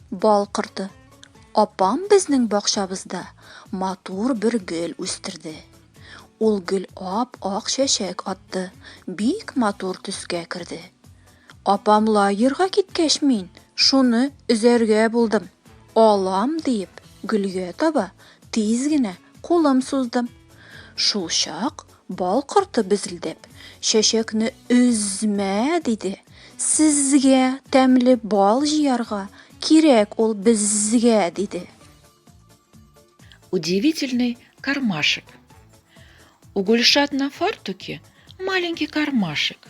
Бал корты. Апам безнең бакчабызда матур бер гөл үстерде. Ул гөл ап-ак чәчәк атты, бик матур төскә керде. Апам лагерьга киткәч мин шуны өзәргә булдым. Алам диеп, гөлгә таба тиз генә кулым суздым. Шулчак бал корты безелдәп, чәчәкне өзмә диде. Сезгә тәмле бал җыярга кирәк ул безгә диде. Удивительный кармашек. У Гульшат на фартуке маленький кармашек.